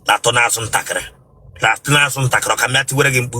na-atụ n'azụ ntakịrị na-atụ n'azụ ntakịrị ọ ka m bịa tiwere gị mkpu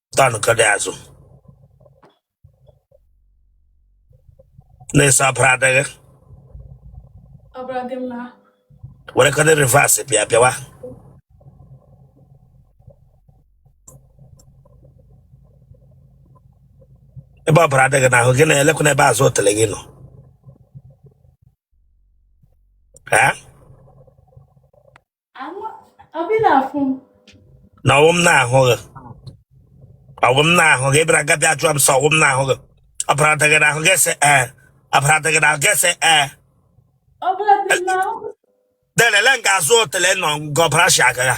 tanụ okada azụ na-asị ọbara adịghị were okada reverse bịa bịawa ebe ọbara adịghị n'ahụ gị na-elekwa n'ebe azụ otele gị nọ ee na ọwụ m na-ahụ gị ọwụ m na-ahụ gị ị bịara nga bịa ajụọ m sị ọwụ m na-ahụ gị ọbara adịghị n'ahụ gị sị ee ọbara adịghị n'ahụ gị sị ee delele nga azụ otele nọ nga ọbara shi aga ya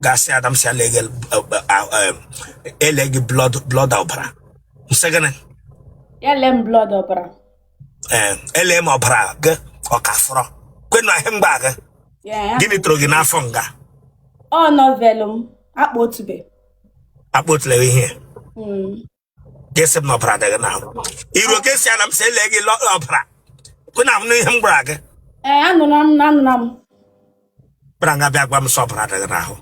gasị adam si ala eghe ele gị blood blood ọbara ị sị gịnị ya lee m blood ọbara ee ele m ọbara gị ọ ka fọrọ kwenu ahịa mgba gị Ya, ya. gịnị toro gị n'afọ nga ọ novel m akpa otube akpọtụla ihe Mm. ga-asị m na ọbara adịghị n'ahụ iru oke si ala m si ele gị lọ- ọbara kwe na ahụ n'ihe m gwara gị ee anụla m na anụla m bịara nga bịa gwa m sị ọbara adịghị n'ahụ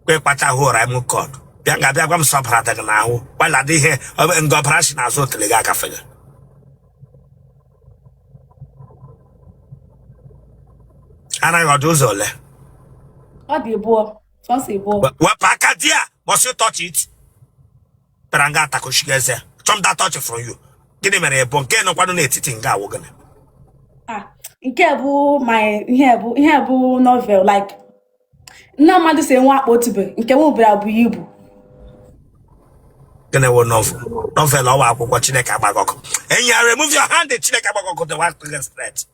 kwe kpacha hụ were okada bịa nga bịa gwa m sị ọbara adịghị n'ahụ gbala dị ihe ọ- nga ọbara si n'azụ otele gị agafe gị anaghị ọ dị ụzọ ole ọ dị abụọ Possible. But what Pakadia? Must you touch it? Bịara nga Takoshigeze. Chom that touch from you. Gịnị mere ebe nke nọkwanụ n'etiti nga wụ gịnị? Ah, nke bụ my ihe bụ ihe bụ novel like nna mmadụ si enwe akpa otube nke nwe obere abụ ya ibu. Gịnị wụ novel? Novel ọ wụ akwụkwọ Chineke agba gị ọkụ. And you are remove your hand, the Chineke agba gị ọkụ the one thing is threat.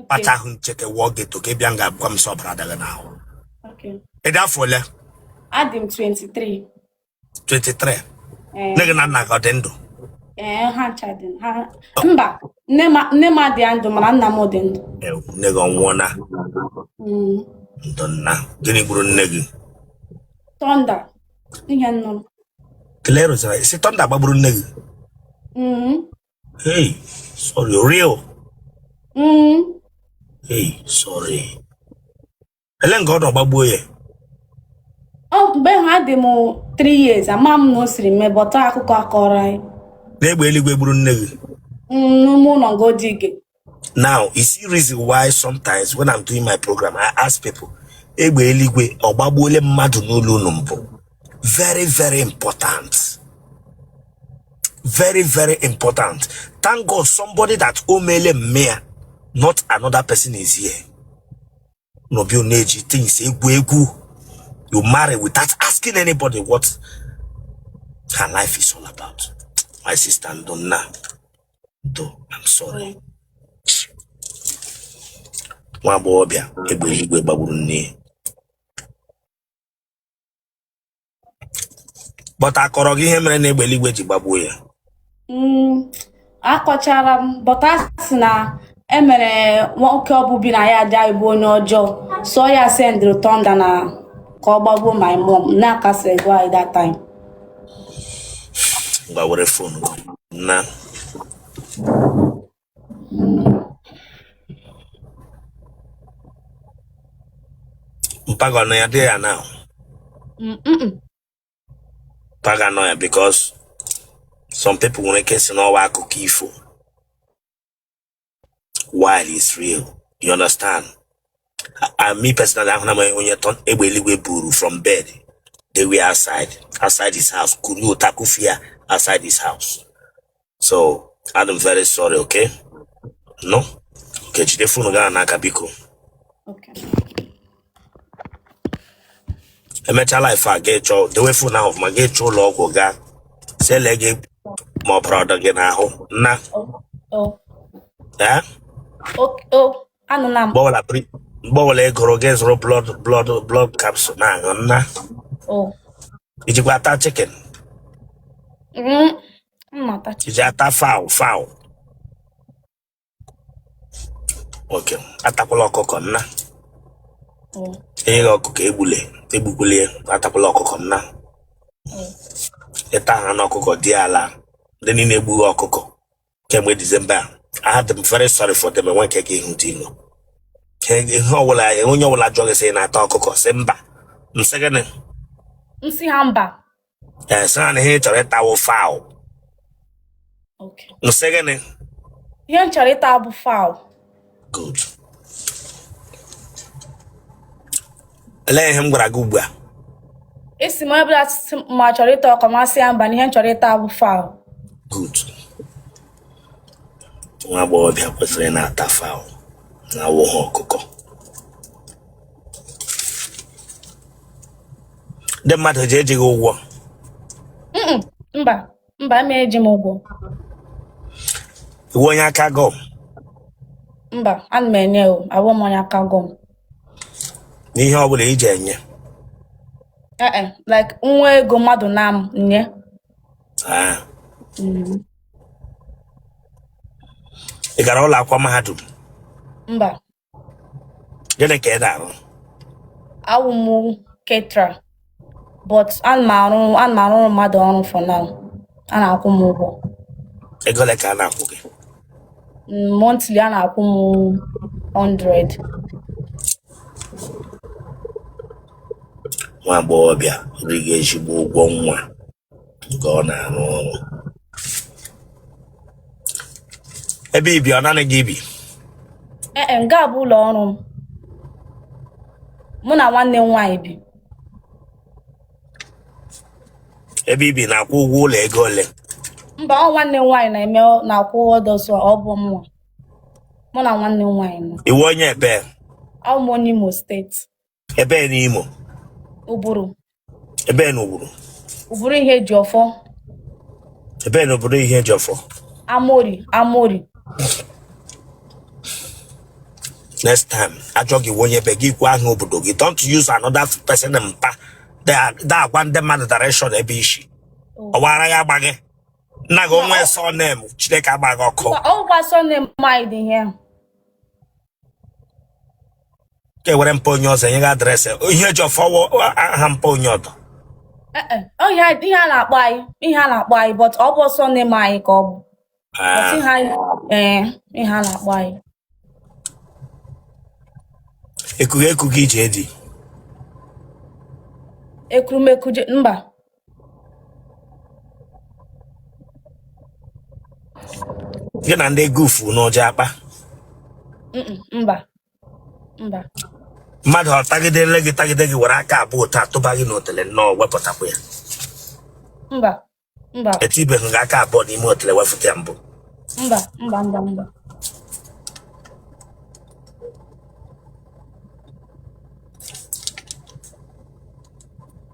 kpacha ahụ ncheke wụọ gị eto ka ị bịa nga gwa m sị ọbara adịghị n'ahụ Okay. ị dị afọ ole Adị m 23. 23 Eh, nne gị na nna gị ọ dị ndụ eh, ha ncha dị ha mba nne m nne m adịghị ndụ mana nna m dị ndụ. Ew, nne gị ọ nwụọla Mm. ndo nna gịnị gburu nne gị Thunder ihe nnụnụ. kele rụzara isi thunder gbagburu nne gị Mm. Hey, sorry, real. Mm. Hey, sorry. Ele nga ọ nọ ọ gbagbuo ya. Ọ mgbe ahụ adị m 3 years ama m na o siri mee but akụkọ a kọrọ anyị. N'egbe eluigwe gburu nne gị. Mm, N'ime ụlọ ngodi gị. now you see reason why sometimes when i'm doing my program i ask people egbe eluigwe ọ gbagbuole mmadụ n'ụlọ unu mbụ very very important very very important thank god somebody that o meele mme ya not another person is here no be una age things egwu egwu you marry without asking anybody what her life is all about my sister ndonna ndo i'm sorry nwa agbọghọbịa egbe igwe gbagburu nne ya but a kọrọ gị ihe mere na egbe eluigwe ji gbagbuo ya mm, akọchara m but a sị na e nwere nwoke o bu bi na yard anyị bụ onye ọjọọ so ọ ya sendịrị thunder na ka ọ gbagbuo my mom na akasị gwa anyị that time ngwa were fon na mpa gị a nọ ya di ya na Mm-mm. mpa gị a nọ ya because some people nwere ike sị na ọ wụ akụkọ ifo while it's real you understand and me personally ahụ na m onye egbe eluigwe buru from bed dewe outside outside his house kuru out kufe ya outside his house so adị m very sorry okay no ka jide fonu gị n'aka biko Okay. e mecha live a ga ịchọ dewe fonu ahụ ọfụma ga ịchọ ụlọ ọgwụ gaa sị lee gị ma ọbara ọ dị gị n'ahụ nna Oh, oh, ee oh, oh. Anụla m. mgbe ọbụla pri- mgbe ọbụla ọ gụrụ gị zụrụ blood blood blood capsule na-aṅụ nna Oh. i jikwa ata chicken Mm. Mmata. I ji ata fowl fowl. Okay, atakwala ọkụkọ nna. Mm. E nye gị ọkụkọ egbule, egbukwele ya, atakwala ọkụkọ nna. Mm. Ịta anụ ọkụkọ dị ala, ndị niile na-egbugha ọkụkọ kemgbe Disemba a. Adị m very sorry for them enwe nke gị ihu dị ilo. Ka ihe ọbụla onye ọbụla jụọ gị sị ị na-ata ọkụkọ sị mba. M sị gịnị? M sị ha mba. ee sị ha na ihe ị chọrọ ịta wụ fowl Okay. m sị gịnị Ihe m chọrọ ịta bụ fowl. good olee ihe m gwara gị ugbu a Ị sị m onye ọbụla sị m ma m chọrọ ịta ọkụkọ m sị ya mba na ihe m chọrọ ịta bụ fowl. good nwa agbọghọbịa kwesịrị na-ata fowl na awụghị ọkụkọ ndị mmadụ ji eji gị ụgwọ Mm-mm, mba mba ma eji m ụgwọ ị wụ onye aka gọm mba ana m enye o awụ m onye aka gọm na ihe ọbụla i ji enye ee e, like nwa ego mmadụ ana m enye Ah. Mm, ị gara ụlọ akwụkwọ mahadum mba gịnị ka ị na-arụ awụ m caterer but ana m arụ ana m arụrụ mmadụ ọrụ for now a na-akwụ m ụgwọ ego ole ka a na-akwụ gị Mm, monthly a na-akwụ m 100 nwa agbọghọbịa riga ezigbo ụgwọ ọnwa ka ọ na-arụ ọrụ ebe i bi ọ naanị gị bi ee e, nga a bụ ụlọ ọrụ m mụ na nwanne m nwaanyị bi ebe i bi ị na-akwụ ụgwọ ụlọ ego ole mba ọ nwanne m nwaanyị na-eme na-akwụ ụgwọ dọsụ ọ bụ mụ mụ na nwanne m nwaanyị nọ ị wụ onye ebee awụ m onye Imo steeti ebee n'Imo Uburu ebee na Uburu Uburu Ihejiọfọ ebee na Uburu Ihejiọfọ Amorie Amorie next time a jụọ gị ị wụ onye ebee gị kwuo aha obodo gị don't use another person mpa da-agwa ndị mmadụ direction ebe i si oh. ọwara ya agba gị nna gị onwe surname chineke agba gị ọkụ ọgwa surname maịdị ihe ka e were mpa onye ọzọ enye gị address Ihejiọfọ wụ aha mpa onye ọdọ Eh, eh, ọ ihe a- ihe a na-akpọ anyị ihe a na-akpọ anyị but ọ bụ ọsọ na-eme anyị ka ọ bụ But ihe anyị ee ihe a na-akpọ anyị ekughị ekughị iji edi ekurumekuje mba gị na ndị gufu n'ụjọ akpa Mm-mm, mba mba mmadụ ọ tagidere gị tagide gị were aka abụọ otu a tụba gị n'otele nnọọ wepụtakwa ya mba mba etibeghị gị aka abụọ n'ime otele wefụta ya mbụ mba mba mba mba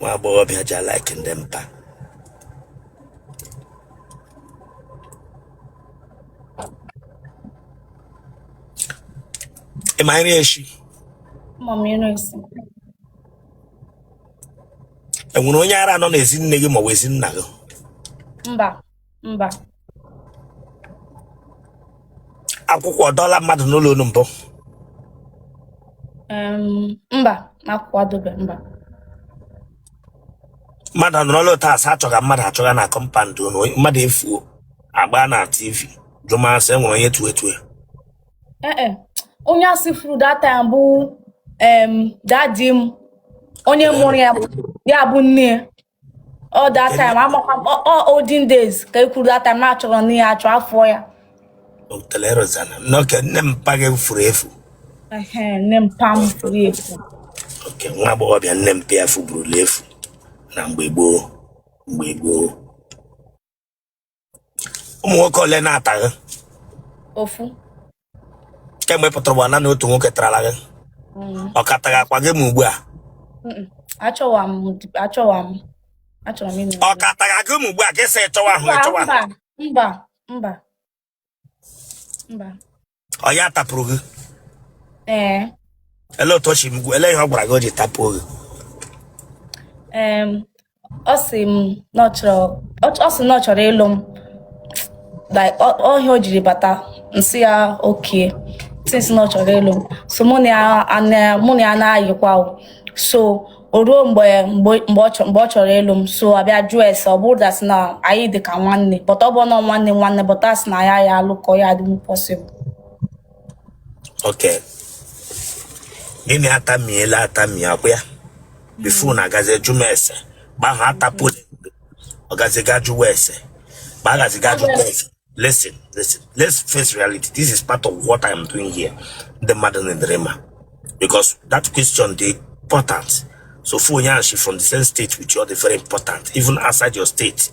nwa agbọghọbịa ji a-like ndị mpa ị ma nri echi e nwere onye ara nọ n'ezi nne gị maọbụ ezi nna gị mba mba akwụkwụ adọọla mmadụ n'ụlọ unu mbụ em, mba akwụkwụ adọbe mba mmadụ anọrọla otu a sị a chọga mmadụ achọga na compound unu mmadụ efuo a gbaa na tv jụma ase e nwere onye tue etue ee e, onye a sị furu that time bụ em, daddy m onye mụrụ ya bụ ya bụ nne ya ọ that time amakwa m ọ- ọ olden days ka e kwuru that time na-achọrọ na ya achọ afọ ya telerozana n'oke nne mpa gị furu efu Ehe, nne mpa m furu efu okay nwa agbọghọbịa nne mpa ya efuburula efu na mgbe gboo mgbe gboo ụmụ nwoke ole na-ata gị ofu kemgbe ị pụtara ụwa naanị otu nwoke tarala gị Mm, ọ ka taghakwa gị ma ugbu a mm, achọwa m achọwa m achọrọ m ịnụ ọ ka tagha gị ma ugbu a gị sị chọwa ahụ mba ịchọwa ahụ mba mba mba mba ọ ya tapụrụ gị ee ele otu o si m gwa- ele ihe ọ gwara gị o ji tapụọ gị em, ọ sị m na ọ chọrọ ọ ọ sị na ọ chọrọ ịlụ m like ọ- ọ ihe o jiri bata m sị ya okay since na ọ chọrọ ịlụ m so mụ na ya ana- mụ na ya na-ayịkwa o. so o ruo mgbe mgbe mgbe ọ chọ- mgbe ọ chọrọ ịlụ m so a bịa jụọ ese ọ bụrụ dasị na anyị dị ka nwanne but ọ bụ nọ nwanne nwanne but a sị na ya ya alụkọ ọ ya adịnwu possible Okay. Gị na ya atamiela atami ọ kwa ya? Before na agazi jụ m ese. Gba ha atapụ. Ọ gazi ga jụwa ese. Gba agazi ga jụwa ese. Listen, listen. Let's face reality. This is part of what I'm doing here. The madam and dreamer. Because that question dey important. So for Yanshi from the same state with you, dey very important, even outside your state.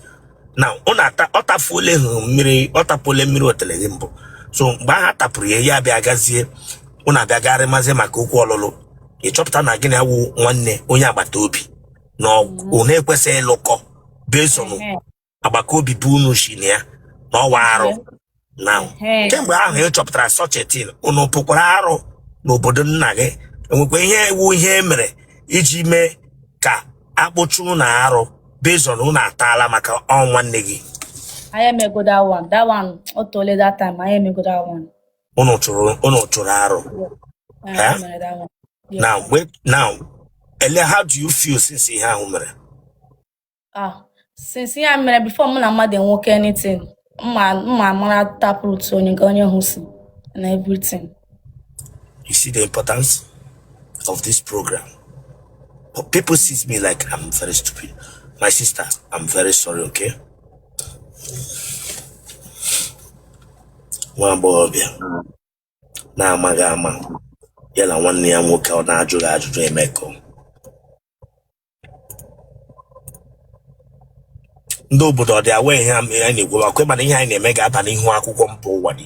Now, on ọ tapụle miri ọ tapụle miri otelegimbo. So mgbe ahụ a tapụrụ ya ya abịa gazie ụnụ abịa garị mazi maka okwu ọlụlụ ịchọpụta na gị na ya wụ nwanne onye agbata obi na unu ekwesịghị ịlụkọ based on agbata obi bụ unu si na ya na ọ wụ arụ na Hey. kemgbe ahụ ị chọpụtara such a thing unu kpụkwara arụ n'obodo nna gị e nwekwa ihe ewu ihe e mere iji mee ka a kpụchaa unu arụ based on unu ataala maka ọ wụ nwanne gị anyị emego that one that one ọ teela that time anyị emego that one unu chụrụ unu chụrụ arụ anyị Eh? mere that one Yes. now wait now ele how do you feel since ihe ahụ mere ah since ya mere before mụ na mmadụ enwekọọ anything m ma amara taproot onye nke onye ahụ si and everything You see the importance of this program. But people sees me like I'm very stupid. My sister, I'm very sorry, okay? One boy, yeah. na-amaghị ama ya na nwanne ya nwoke ọ na-ajụghị ajụjụ emekọ ndị obodo ọ dị awa ihe a ihe anyị na-ekwu akwa ị ma na ihe anyị na-eme ga-aba n'ihu akwụkwọ mba ụwa dị